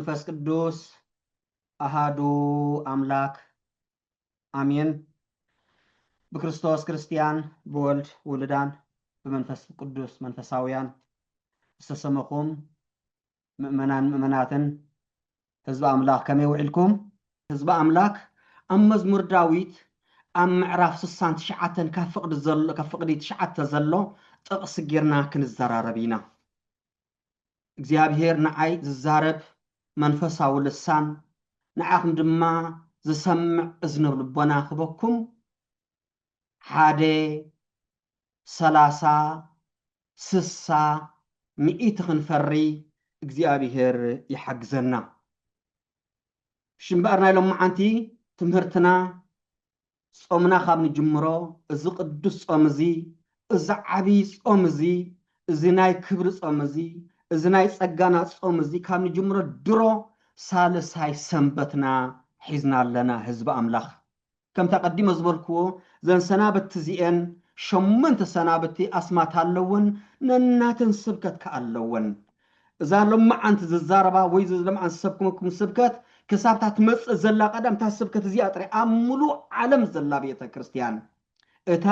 መንፈስ ቅዱስ ኣሃዱ ኣምላክ ኣሜን። ብክርስቶስ ክርስቲያን ብወልድ ውሉዳን ብመንፈስ ቅዱስ መንፈሳውያን ዝተሰመኹም ምእመናን ምእመናትን ህዝቢ ኣምላክ ከመይ ውዒልኩም። ህዝቢ ኣምላክ ኣብ መዝሙር ዳዊት ኣብ ምዕራፍ ስሳን ትሽዓተን ካብ ፍቅዲ ዘሎ ካብ ፍቅዲ ትሽዓተ ዘሎ ጥቅሲ ጌርና ክንዘራረብ ኢና እግዚኣብሄር ንዓይ ዝዛረብ መንፈሳዊ ልሳን ንዓኹም ድማ ዝሰምዕ እዝኒ ልቦና ክበኩም ሓደ ሰላሳ ስሳ ሚኢቲ ክንፈሪ እግዚኣብሄር ይሓግዘና እሺ እምበኣር ናይ ሎማዓንቲ ትምህርትና ጾምና ካብ ንጅምሮ እዚ ቅዱስ ጾም እዚ እዚ ዓብይ ጾም እዚ እዚ ናይ ክብሪ ጾም እዚ እዚ ናይ ጸጋና ጾም እዚ ካብ ንጅምሮ ድሮ ሳልሳይ ሰንበትና ሒዝና ኣለና ህዝቢ ኣምላኽ ከምቲ ኣቐዲመ ዝበልክዎ እዘን ሰናብቲ እዚኤን ሸሞንተ ሰናብቲ ኣስማት ኣለወን፣ ነናተን ስብከት ከኣ ኣለወን። እዛ ሎማዓንቲ ዝዛረባ ወይ እዚ ሎምዓንቲ ዝሰብክመኩም ስብከት ክሳብ እታ ትመጽእ ዘላ ቀዳም እታ ስብከት እዚኣ ጥራይ ኣብ ምሉእ ዓለም ዘላ ቤተ ክርስትያን እታ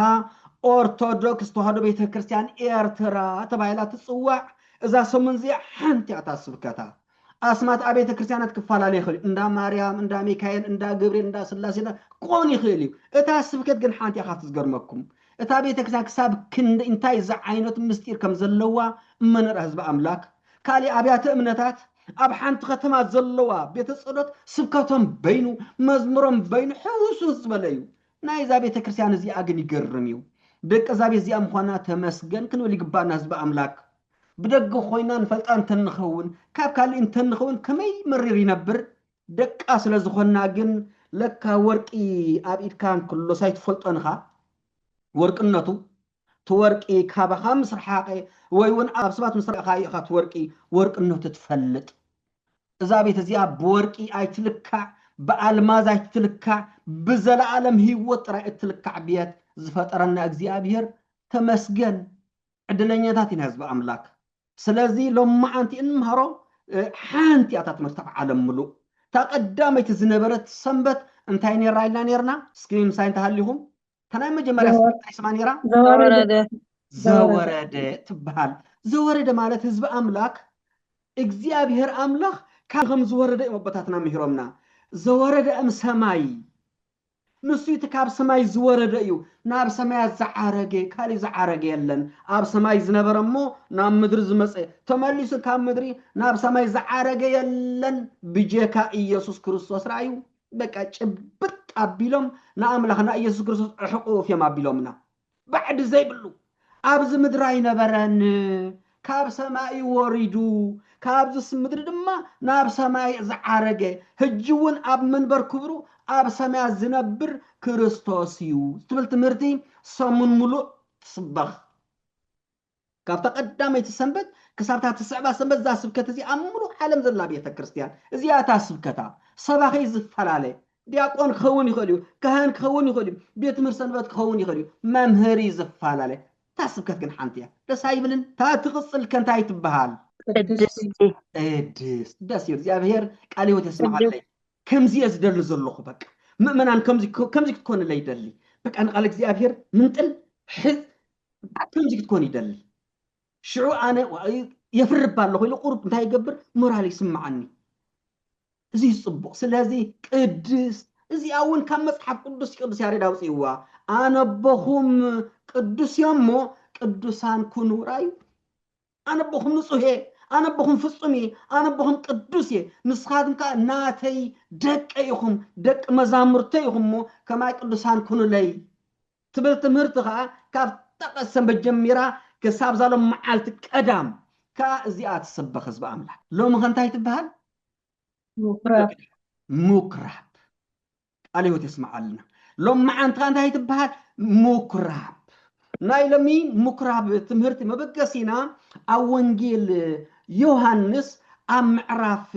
ኦርቶዶክስ ተዋህዶ ቤተ ክርስትያን ኤርትራ ተባሂላ ትጽዋዕ እዛ ሰሙን እዚኣ ሓንቲ እያ እታ ስብከታ። ኣስማት ኣብያተ ክርስቲያናት ክፈላለ ይኽእል እዩ። እንዳ ማርያም፣ እንዳ ሚካኤል፣ እንዳ ገብርኤል፣ እንዳ ስላሴ እንዳ ክኸውን ይኽእል እዩ። እታ ስብከት ግን ሓንቲ እያ ካብቲ ዝገርመኩም። እታ ቤተ ክርስቲያን ክሳብ ክንደይ እንታይ ዝዓይነቱ ምስጢር ከም ዘለዋ እመነራ ህዝቢ ኣምላክ። ካልእ ኣብያተ እምነታት ኣብ ሓንቲ ከተማ ዘለዋ ቤተ ጸሎት ስብከቶም በይኑ መዝሙሮም በይኑ ሕውስውስ ዝበለ እዩ። ናይዛ ቤተ ክርስቲያን እዚኣ ግን ይገርም እዩ። ደቂ እዛ ቤት እዚኣ ምዃና ተመስገን ክንብል ይግባና ህዝቢ ኣምላክ። ብደገ ኮይና ንፈልጣ እንተንኸውን ካብ ካልእ እንተንኸውን ከመይ መሪር ይነብር ደቃ ስለ ዝኾና ግን ለካ ወርቂ ኣብ ኢድካ እንክሎ ሳይትፈልጦን እኻ ወርቅነቱ እቲ ወርቂ ካባኻ ምስ ረሓቐ ወይ እውን ኣብ ሰባት ምስ ረኣኻዮ ኢኻ እቲ ወርቂ ወርቅነቱ ትፈልጥ እዛ ቤት እዚኣ ብወርቂ ኣይትልካዕ ብኣልማዝ ኣይትልካዕ ብዘለኣለም ህይወት ጥራይ እትልካዕ ቤት ዝፈጠረና እግዚኣብሄር ተመስገን ዕድለኛታት ኢና ህዝቢ ኣምላክ ስለዚ ሎማዓንቲ እንምሃሮ ሓንቲ እያ እታ ትምህርቲ ኣብ ዓለም ምሉእ እታ ቀዳመይቲ ዝነበረት ሰንበት እንታይ ነራ ኢልና ነርና እስኪ ምሳይ እንተሃሊኹም እታ ናይ መጀመርያ ሰንበት እንታይ ስማ ነራ ዘወረደ ዘወረደ ትበሃል ዘወረደ ማለት ህዝቢ ኣምላክ እግዚኣብሔር ኣምላክ ካብ ከም ዝወረደ እዮም ኣቦታትና ምሂሮምና ዘወረደ እም ሰማይ ንሱ እቲ ካብ ሰማይ ዝወረደ እዩ፣ ናብ ሰማያት ዝዓረገ ካልእ ዝዓረገ የለን፣ ኣብ ሰማይ ዝነበረ እሞ ናብ ምድሪ ዝመጸ ተመሊሱ ካብ ምድሪ ናብ ሰማይ ዝዓረገ የለን ብጀካ ኢየሱስ ክርስቶስ ራኣዩ በቃ ጭብጥ ኣቢሎም ንኣምላኽና ኢየሱስ ክርስቶስ ዕሕቁፍ እዮም ኣቢሎምና ባዕዲ ዘይብሉ ኣብዚ ምድሪ ኣይነበረን ካብ ሰማይ እዩ ወሪዱ ካብዚስ ምድሪ ድማ ናብ ሰማይ ዝዓረገ ሕጂ እውን ኣብ መንበር ክብሩ ኣብ ሰማያት ዝነብር ክርስቶስ እዩ ትብል ትምህርቲ ሰሙን ሙሉእ ትስበኽ ካብታ ቀዳመይቲ ሰንበት ክሳብ እታ ትስዕባ ሰንበት እዛ ስብከት እዚኣ ኣብ ምሉእ ዓለም ዘላ ቤተ ክርስቲያን እዚኣ እታ ስብከታ ሰባኺ ዝፈላለ ዲያቆን ክኸውን ይኽእል እዩ፣ ካህን ክኸውን ይኽእል እዩ፣ ቤት ትምህርት ሰንበት ክኸውን ይኽእል እዩ፣ መምህሪ ዝፈላለ እታ ስብከት ግን ሓንቲ እያ። ደስ ኣይብልን? እታ ትቕጽል ከንታይ ትበሃል? ቅድስቲ ቅድስት ደስ ይብል እግዚኣብሔር ቃል ህይወት ቅድስት የስምዓለይ ከምዚ እየ ዝደሊ ዘለኹ በቃ ምእመናን ከምዚ ከምዚ ክትኮንለይ ይደሊ በቃ ንቃል እግዚኣብሔር ምንጥል ሕዝ ከምዚ ክትኮን ይደሊ ሽዑ ኣነ የፍርብ ኣለኹ ኢሉ ቁሩብ እንታይ ይገብር ሞራል ይስምዓኒ እዚ ጽቡቕ ስለዚ ቅድስት እዚኣ እውን ካብ መጽሓፍ ቅዱስ ቅዱስ ያሬድ ኣውፅእዋ ኣነቦኹም ቅዱስ እዮም እሞ ቅዱሳን ኩኑ ራዩ ኣነ ኣቦኹም ንጹህ እየ፣ ኣነ ኣቦኹም ፍጹም እየ፣ ኣነ ኣቦኹም ቅዱስ እየ፣ ንስኻትኩም ከኣ ናተይ ደቂ ኢኹም፣ ደቂ መዛሙርተይ ኢኹም እሞ ከማይ ቅዱሳን ኩኑለይ ትብል ትምህርቲ ከኣ ካብ ጠቐስ ሰንበት ጀሚራ ክሳብ እዛ ሎም መዓልቲ ቀዳም ከኣ እዚኣ ትስበኽ ህዝቢ ኣምላኽ። ሎሚ ከ እንታይ ትበሃል? ምኵራብ። ምኵራብ። ቃል ህይወት የስምዓልና ሎምዓንቲ ከ እንታይ ትበሃል ምኩራብ ናይ ሎሚ ምኩራብ ትምህርቲ መበገሲና ኣብ ወንጌል ዮሃንስ ኣብ ምዕራፍ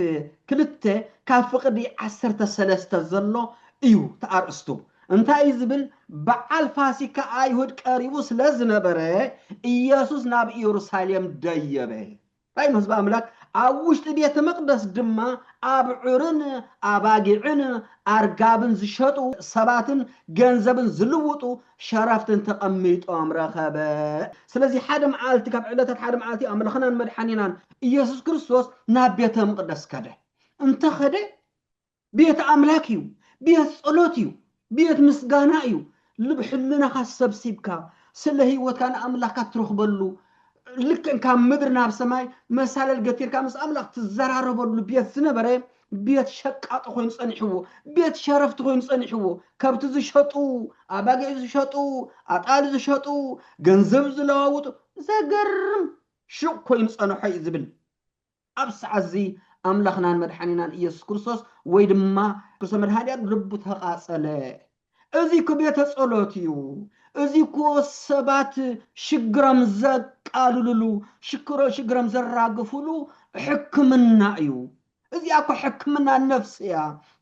ክልተ ካብ ፍቕዲ ዓሰርተ ሰለስተ ዘሎ እዩ ተኣርእስቱ እንታይ እዩ ዝብል በዓል ፋሲካ ኣይሁድ ቀሪቡ ስለ ዝነበረ ኢየሱስ ናብ ኢየሩሳሌም ደየበ ታይ ኢሉ ህዝቢ ኣምላክ ኣብ ውሽጢ ቤተ መቅደስ ድማ ኣብዑርን ኣባጊዕን ኣርጋብን ዝሸጡ ሰባትን ገንዘብን ዝልውጡ ሸረፍትን ተቀሚጦም ረከበ ስለዚ ሓደ መዓልቲ ካብ ዕለታት ሓደ መዓልቲ ኣምላክናን መድሓኒናን ኢየሱስ ክርስቶስ ናብ ቤተ ምቅደስ ከደ እንተ ከደ ቤት ኣምላክ እዩ ቤት ጸሎት እዩ ቤት ምስጋና እዩ ልብ ሕልናኻ ሰብሲብካ ስለ ህይወትካ ንኣምላካ ትረኽበሉ ልክዕ ካብ ምድሪ ናብ ሰማይ መሳለል ገቲርካ ምስ ኣምላኽ ትዘራረበሉ ቤት ዝነበረ ቤት ሸቃጦ ኮይኑ ጸኒሕዎ ቤት ሸረፍቲ ኮይኑ ጸኒሕዎ ከብቲ ዝሸጡ ኣባጊዕ ዝሸጡ ኣጣል ዝሸጡ ገንዘብ ዝለዋውጡ ዘገርም ሹቕ ኮይኑ ጸንሖ እዩ ዝብል ኣብዚ ሰዓት እዚ ኣምላኽናን መድሓኒናን ኢየሱስ ክርስቶስ ወይ ድማ ክርስቶስ መድሃኒኣም ልቡ ተቓጸለ። እዚ እኮ ቤተ ጸሎት እዩ። እዚ እኮ ሰባት ሽግሮም ዘቃልሉሉ ሽክሮ ሽግሮም ዘራግፉሉ ሕክምና እዩ። እዚኣ እኮ ሕክምና ነፍሲ እያ።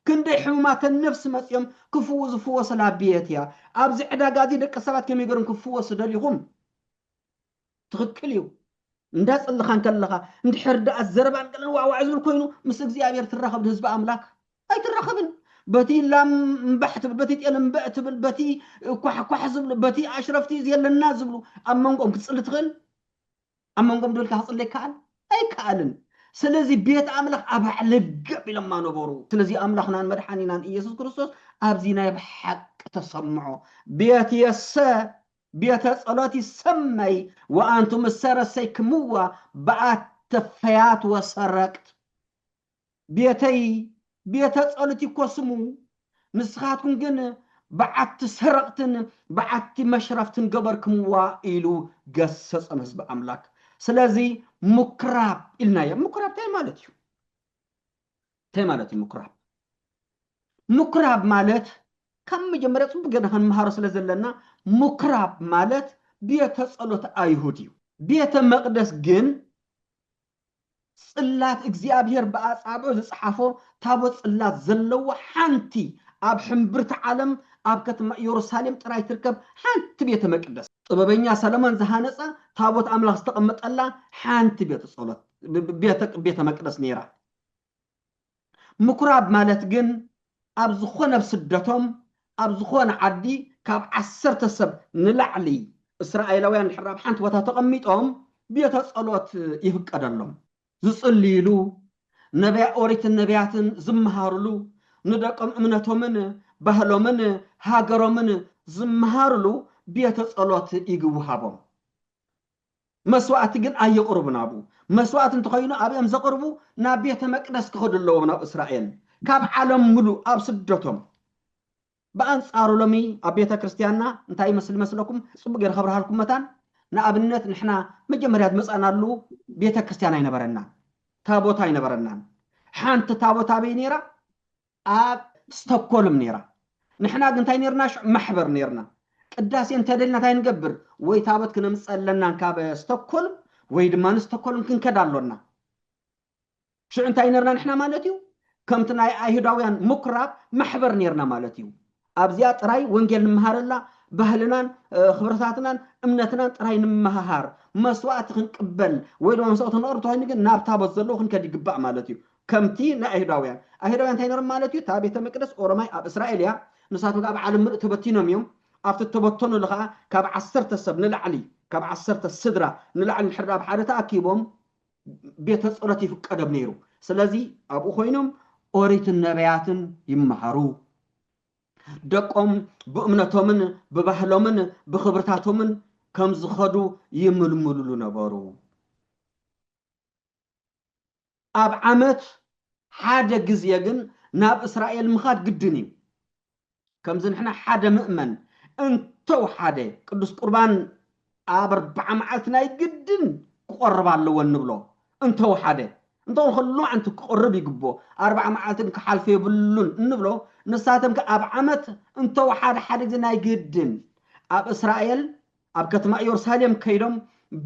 ክንደይ ሕሙማተ ነፍሲ መጺኦም ክፍው ዝፍወስላ ቤት እያ። ኣብዚ ዕዳጋ እዚ ደቂ ሰባት ከመይ ገይሮም ክፍወሱ ደሊኹም? ትኽክል እዩ እንዳጸለኻ እንከለኻ እንድሕር ደኣ ዘረባን ገለን ዋዕዋዕ ዝብል ኮይኑ ምስ እግዚኣብሔር ትራኸብ ህዝቢ ኣምላክ ኣይትራኸብን በቲ ላም እምባሕ ትብል በቲ ጤል እምበእ ትብል በቲ ኳሕኳሕ ዝብሉ በቲ ኣሽረፍቲ የለና ዝብሉ ኣብ መንጎኦም ክትፅሊ ትኽእል ኣብ መንጎኦም ደልካ ክፅሊ ይከኣል ኣይከኣልን ስለዚ ቤት ኣምላኽ ኣብ ልገብ ኢሎማ ነበሩ ስለዚ ኣምላኽናን መድሓኒናን ኢየሱስ ክርስቶስ ኣብዚ ናይ ብሓቂ ተሰምዖ ቤት የሰ ቤተ ጸሎት ይሰመይ ወኣንቱም እሰ ረሰይክምዋ በኣተ ፈያት ወሰረቅት። ቤተይ ቤተ ጸሎት ይኮ ስሙ፣ ንስኻትኩም ግን በዓቲ ሰረቕትን በዓቲ መሽረፍትን ገበርክምዋ ኢሉ ገሰጸም ህዝቢ ኣምላክ። ስለዚ ሙክራብ ኢልናዮ። ሙክራብ ታይ ማለት እዩ? እንታይ ማለት እዩ ምኩራብ? ምኩራብ ማለት ካብ መጀመርያ ጽቡቅ ጌርና ክንምሃሮ ስለ ዘለና ምኩራብ ማለት ቤተ ጸሎት ኣይሁድ እዩ። ቤተ መቅደስ ግን ጽላት እግዚኣብሔር ብኣጻብዑ ዝጸሓፎ ታቦት ጽላት ዘለዎ ሓንቲ ኣብ ሕምብርቲ ዓለም ኣብ ከተማ ኢየሩሳሌም ጥራይ ትርከብ ሓንቲ ቤተ መቅደስ ጥበበኛ ሰለሞን ዝሃነጻ ታቦት ኣምላኽ ዝተቐመጠላ ሓንቲ ቤተ ጸሎት ቤተ መቅደስ ነይራ። ምኩራብ ማለት ግን ኣብ ዝኾነ ኣብ ስደቶም ኣብ ዝኾነ ዓዲ ካብ ዓሰርተ ሰብ ንላዕሊ እስራኤላውያን ድሕር ኣብ ሓንቲ ቦታ ተቐሚጦም ቤተ ጸሎት ይፍቀደሎም። ዝጽልይሉ፣ ነቢያ ኦሪትን ነቢያትን ዝመሃርሉ፣ ንደቆም እምነቶምን ባህሎምን ሃገሮምን ዝመሃርሉ ቤተ ጸሎት ይግውሃቦም። መስዋእቲ ግን ኣየቕርቡን ኣብኡ መስዋእቲ እንተኾይኑ ኣብእም ዘቕርቡ ናብ ቤተ መቅደስ ክኸዱ ኣለዎም ናብ እስራኤል ካብ ዓለም ምሉእ ኣብ ስደቶም ብኣንጻሩ ሎሚ ኣብ ቤተ ክርስቲያንና እንታይ ይመስል መስለኩም ጽቡቅ ገይረ ከብርሃልኩም መታን ንኣብነት ንሕና መጀመርያ ዝመጻእናሉ ቤተ ክርስቲያን ኣይነበረናን ታቦት ኣይነበረናን ሓንቲ ታቦት ኣበይ ነይራ ኣብ ስተኮልም ነይራ ንሕና ግን እንታይ ነርና ሽዑ ማሕበር ነርና ቅዳሴ እንተደልና እንታይ ንገብር ወይ ታቦት ክነምጽእ ኣለና ካብ ስተኮልም ወይ ድማ ንስተኮልም ክንከድ ኣሎና ሽዑ እንታይ ነርና ንሕና ማለት እዩ ከምቲ ናይ ኣይሁዳውያን ምኩራብ ማሕበር ነርና ማለት እዩ ኣብዚኣ ጥራይ ወንጌል ንምሃረላ፣ ባህልናን ኽብርታትናን እምነትናን ጥራይ ንምምሃሃር፣ መስዋእቲ ኽንቅበል ወይ ድማ መስዋእቲ ኽነቕርብ ተኾይኑ ግን ናብ ታቦት ዘለዎ ኽንከድ ይግባእ ማለት እዩ። ከምቲ ናይ ኣይሁዳውያን። ኣይሁዳውያን እንታይ ነይሮም ማለት እዩ? እታ ቤተ መቅደስ ኦሮማይ ኣብ እስራኤል እያ፣ ንሳቶም ከኣ ኣብ ዓለም ምሉእ ተበቲኖም እዮም። ኣብቲ እተበተኑሉ ኸኣ ካብ ዓሰርተ ሰብ ንላዕሊ፣ ካብ ዓሰርተ ስድራ ንላዕሊ እንድሕር ደኣ ኣብ ሓደ ተኣኪቦም፣ ቤተ ጸሎት ይፍቀዶም ነይሩ። ስለዚ ኣብኡ ኮይኖም ኦሪትን ነቢያትን ይመሃሩ። ደቆም ብእምነቶምን ብባህሎምን ብኽብርታቶምን ከም ዝኸዱ ይምልምልሉ ነበሩ። ኣብ ዓመት ሓደ ግዜ ግን ናብ እስራኤል ምኻድ ግድን እዩ። ከምዚ ንሕና ሓደ ምእመን እንተውሓደ ቅዱስ ቁርባን ኣብ ኣርብዓ መዓልቲ ናይ ግድን ክቆርብ ኣለዎ እንብሎ እንተውሓደ እንተኾነ ከ ሎማዕንቲ ክቆርብ ይግብኦ ኣርብዓ መዓልትን ክሓልፎ የብሉን እንብሎ ንሳቶም ከ ኣብ ዓመት እንተውሓደ ሓደ ግዜ ናይ ግድን ኣብ እስራኤል ኣብ ከተማ ኢየሩሳሌም ከይዶም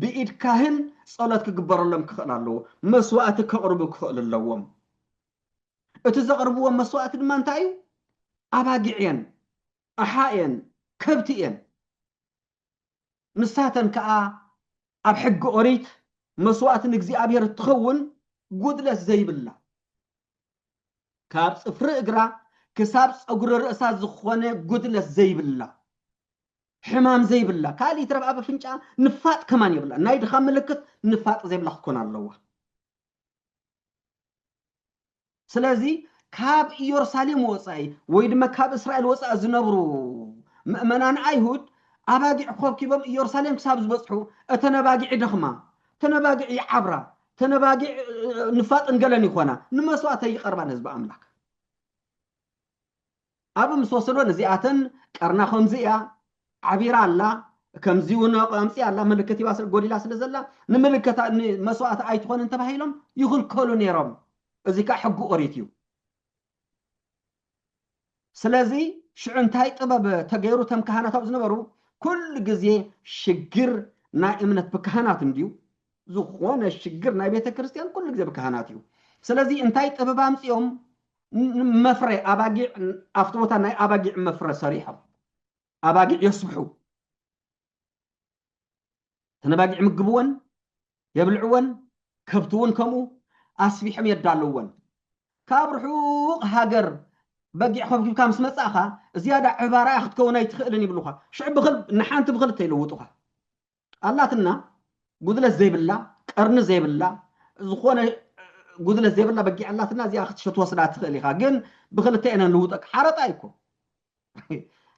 ብኢድ ካህን ጸሎት ክግበረሎም ክኽእል ኣለዎ መስዋእቲ ከቕርቡ ክኽእል ኣለዎም እቲ ዘቕርብዎ መስዋእቲ ድማ እንታይ እዩ? ኣባጊዕ እየን፣ ኣሓ እየን፣ ከብቲ እየን። ንሳተን ከኣ ኣብ ሕጊ ኦሪት መስዋእቲ ንእግዚኣብሄር እትኸውን ጉድለት ዘይብላ፣ ካብ ጽፍሪ እግራ ክሳብ ጸጉሪ ርእሳ ዝኾነ ጉድለት ዘይብላ፣ ሕማም ዘይብላ፣ ካልእ ይትረፍ ኣብ ኣፍንጫኣ ንፋጥ ከማን የብላን። ናይ ድኻም ምልክት ንፋጥ ዘይብላ ክትኮን ኣለዋ። ስለዚ ካብ ኢየሩሳሌም ወጻኢ ወይ ድማ ካብ እስራኤል ወጻኢ ዝነብሩ ምእመናን ኣይሁድ ኣባጊዕ ኮብኪቦም ኢየሩሳሌም ክሳብ ዝበጽሑ እተን ኣባጊዕ ይደኽማ፣ እተን ኣባጊዕ ይዓብራ፣ እተን ኣባጊዕ ንፋጥን ገለን ይኾና፣ ንመስዋእተይ ይቐርባ ንህዝቢ ኣምላክ። ኣብ ምስ ወሰዶ ንዚኣተን ቀርና ከምዚ እያ ዓቢራ ኣላ ከምዚ ውን ኣምጺኣ ኣላ ምልክት ሂባ ስለ ጎዲላ ስለ ዘላ ንምልከታ ንመስዋእቲ ኣይትኾንን ተባሂሎም ይኽልከሉ ነይሮም እዚ ከኣ ሕጊ ኦሪት እዩ ስለዚ ሽዑ እንታይ ጥበብ ተገይሩ ተም ካህናት ኣብ ዝነበሩ ኩሉ ግዜ ሽግር ናይ እምነት ብካህናት እንድዩ ዝኾነ ሽግር ናይ ቤተ ክርስቲያን ኩሉ ግዜ ብካህናት እዩ ስለዚ እንታይ ጥበብ ኣምጺኦም መፍረ ኣባጊዕ ኣብቲ ቦታ ናይ ኣባጊዕ መፍረ ሰሪሖም ኣባጊዕ የስብሑ ተነባጊዕ ምግብወን የብልዕወን ከብቲ እውን ከምኡ ኣስቢሖም የዳልወን ካብ ርሑቕ ሃገር በጊዕ ከብኪብካ ምስ መፃእኻ ዝያዳ ዕባራያ ክትከውን ኣይትኽእልን ይብሉኻ ሽዑ ብክል ንሓንቲ ብክልተ ይልውጡኻ ኣላትና ጉድለት ዘይብላ ቀርኒ ዘይብላ ዝኾነ ጉድለት ዘይብላ በጊዕ ኣላትና እዚኣ ክትወስዳ ትኽእል ኢኻ ግን ብክልተ ኢና ንልውጠቅ ሓረጣ እዩ እኮ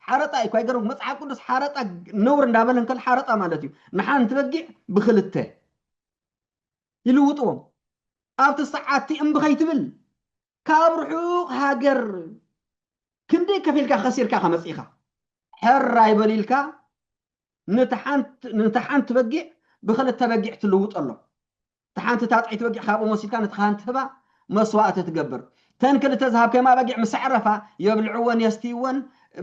ሓረጣ እዩ እኮ ኣይገርም መፅሓፍ ቅዱስ ሓረጣ ነውር እንዳበለ እንከል ሓረጣ ማለት እዩ ንሓንቲ በጊዕ ብክልተ ይልውጥዎም ኣብቲ ሰዓቲ እምቢ ከይትብል ካብ ርሑቕ ሃገር ክንደይ ከፊልካ ከሲርካ ኢኻ መጺእኻ፣ ሕር ኣይበል ኢልካ ነታ ሓንቲ በጊዕ ብኽልተ በጊዕ ትልውጠሎም፣ እታ ሓንቲ ታጥዒት በጊዕ ካብኦም ወሲድካ ነታ ኻህን ትህባ፣ መስዋእቲ ትገብር፣ እተን ክልተ ዝሃብካዮም ኣባጊዕ ምስ ኣዕረፋ የብልዕወን የስትይወን፣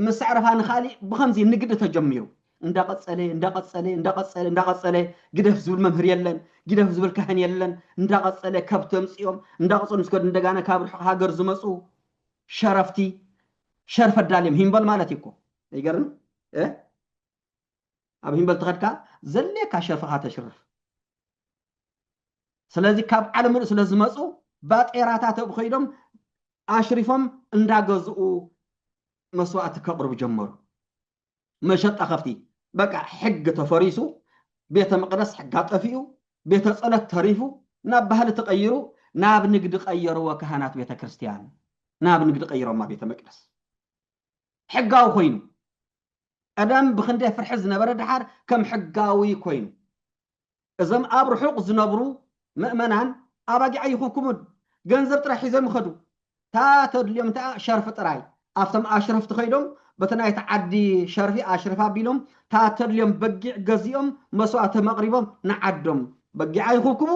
ምስ ኣዕረፋ ንኻሊእ፣ ብኸምዚ ንግዲ ተጀሚሩ። እንዳቐጸለ እንዳቐጸለ እንዳቐጸለ እንዳቐጸለ ግደፍ ዝብል መምህር የለን ግደፍ ዝብል ካህን የለን እንዳቐጸለ ከብቲ ኣምጺኦም እንዳቐጸሉ ምስ ከዱ እንደጋና ካብ ርሑቕ ሃገር ዝመጹ ሸረፍቲ ሸርፍ ኣዳልዮም ሂምበል ማለት እዩ እኮ ይገርም ኣብ ሂምበል ተኸድካ ዘድልየካ ሸርፍኻ ተሽርፍ ስለዚ ካብ ዓለም ምሉእ ስለ ዝመፁ ባጤራታት ኣብ ከይዶም ኣሽሪፎም እንዳገዝኡ መስዋእቲ ከቕርቡ ጀመሩ መሸጣ ከፍቲ በቃ ሕግ ተፈሪሱ ቤተ መቅደስ ሕጋ ጠፊኡ ቤተ ጸሎት ተሪፉ ናብ ባህሊ ተቀይሩ ናብ ንግዲ ቀየርዎ ካህናት ቤተ ክርስቲያን ናብ ንግዲ ቀይሮማ ቤተ መቅደስ ሕጋዊ ኮይኑ ቀደም ብክንደይ ፍርሒ ዝነበረ ድሓር ከም ሕጋዊ ኮይኑ እዞም ኣብ ርሑቕ ዝነብሩ መእመናን ኣባጊዕ ኣይኹንኩሙን ገንዘብ ጥራይ ሒዞም ይኸዱ እታ ተድልዮም እንተኣ ሸርፊ ጥራይ ኣብቶም ኣሽረፍቲ ከይዶም በቲ ናይቲ ዓዲ ሸርፊ ኣሽረፍ ኣቢሎም እታ ተድልዮም በጊዕ ገዚኦም መስዋእቶም ኣቕሪቦም ንዓዶም በጊዕ ኣይኹንኩሙ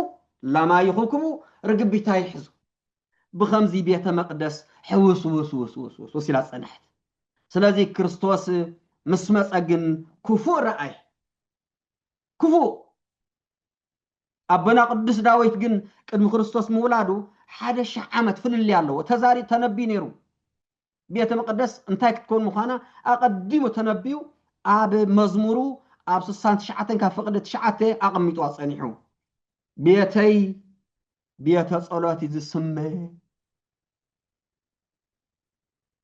ላም ኣይኹንኩሙ ርግቢት ኣይሕዙ ብኸምዚ ቤተ መቕደስ ሕውስውስውስውስውስ ኢላ ጸንሐት ስለዚ ክርስቶስ ምስ መጸ ግን ክፉእ ረኣየ ክፉእ ኣቦና ቅዱስ ዳዊት ግን ቅድሚ ክርስቶስ ምውላዱ ሓደ ሽሕ ዓመት ፍልልይ ኣለዎ ተዛሪ ተነብዩ ነይሩ ቤተ መቅደስ እንታይ ክትከውን ምዃና ኣቐዲሙ ተነብዩ ኣብ መዝሙሩ ኣብ ስሳን ትሽዓተን ካብ ፍቕዲ ትሽዓተ ኣቐሚጡ ኣጸኒሑ ቤተይ ቤተ ጸሎት እዩ ዝስመ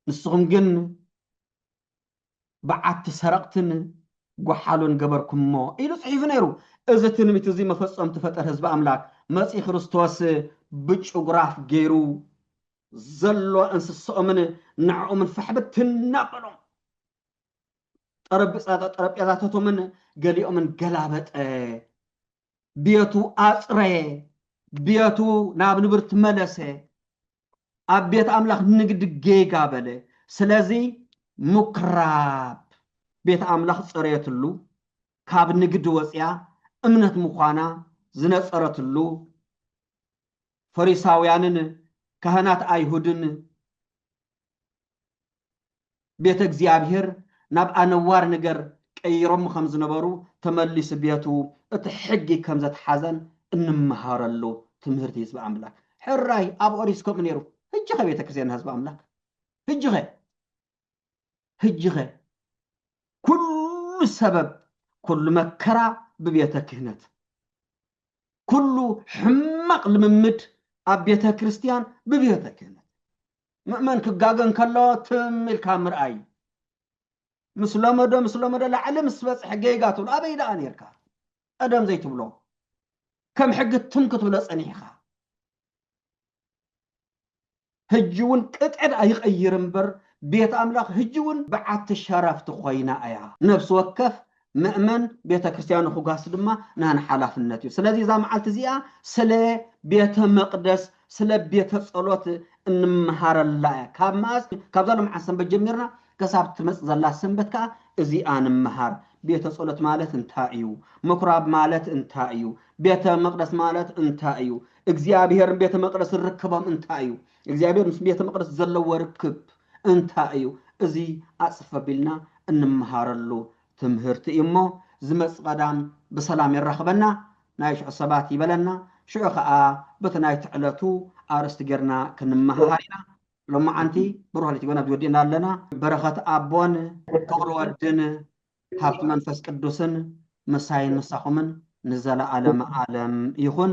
ንስኹም ግን በዓቲ ሰረቕትን ጐሓሉን ገበርኩምሞ ኢሉ ጽሒፉ ነይሩ። እዚ ትንቢት እዚ መፈጸምቱ ፈጠር ህዝቢ ኣምላክ መጺ ክርስቶስ ብጭጉራፍ ገይሩ ዘሎ እንስስኦምን ንዕኦምን ፋሕ ብትን ኣበሎም። ጠረጲጻ ጠረጴዛታቶምን ገሊኦምን ገላበጠ። ቤቱ ኣጽረየ፣ ቤቱ ናብ ንብር ትመለሰ፣ ኣብ ቤት ኣምላኽ ንግድ ጌጋ በለ። ስለዚ ምኵራብ ቤት ኣምላኽ ጸረየትሉ፣ ካብ ንግድ ወጺኣ እምነት ምዃና ዝነጸረትሉ፣ ፈሪሳውያንን ካህናት ኣይሁድን ቤተ እግዚኣብሔር ናብ ኣነዋሪ ንገር ቀይሮሞ ከም ዝነበሩ ተመሊሱ ቤቱ እቲ ሕጊ ከም ዘትሓዘን እንመሃረሉ ትምህርቲ ህዝቢ ኣምላክ ሕራይ ኣብ ኦሪት ከምኡ ነይሩ ህጂ ከ ቤተ ክርስትያን ህዝቢ ኣምላክ ህጂ ከ ህጂኸ ኩሉ ሰበብ ኩሉ መከራ ብቤተ ክህነት ኩሉ ሕማቅ ልምምድ ኣብ ቤተ ክርስትያን ብቤተ ክህነት ምእመን ክጋገ እንከሎ ትም ኢልካ ምርኣይ ምስ ለመዶ ምስ ለመዶ ላዕሊ ምስ በጽሐ ጌጋ ትብሎ ኣበይ ደኣ ነርካ ቀደም ዘይትብሎ ከም ሕጊ ትም ክትብሎ ጸኒሕኻ ህጅውን ቅጥዕድ ኣይቐይር እምበር ቤት ኣምላኽ ህጅውን ብዓቲ ሸረፍት ኮይና ኣያ። ነፍሲ ወከፍ መእመን ቤተ ክርስቲያኑ ክጓስ ድማ ናን ሓላፍነት እዩ። ስለዚ እዛ መዓልቲ እዚኣ ስለ ቤተ መቅደስ ስለ ቤተ ጸሎት እንመሃረላ እያ። ካብ መኣስ ካብዛ ሎምዓንቲ ሰንበት ጀሚርና ከሳብ ትመጽእ ዘላ ሰንበት ከኣ እዚኣ ንምሃር። ቤተ ጸሎት ማለት እንታይ እዩ? ምኵራብ ማለት እንታይ እዩ? ቤተ መቕደስ ማለት እንታይ እዩ? እግዚኣብሔርን ቤተ መቕደስን ርክቦም እንታይ እዩ? እግዚኣብሔር ምስ ቤተ መቕደስ ዘለዎ ርክብ እንታይ እዩ? እዚ ኣጽፍ ኣቢልና እንመሃረሉ ትምህርቲ እዩ እሞ ዝመጽእ ቀዳም ብሰላም የራኽበና ናይ ሽዑ ሰባት ይበለና ሽዑ ከኣ በቲ ናይቲ ዕለቱ ኣርእስቲ ጌርና ክንመሃሃር ኢና ሎማዓንቲ ብሩህ ለይቲ ጎናብዚ ወዲእና ኣለና። በረኸት ኣቦን ፍቕሪ ወድን ሃብቲ መንፈስ ቅዱስን ምሳይን ምሳኹምን ንዘለኣለመ ኣለም ይኹን።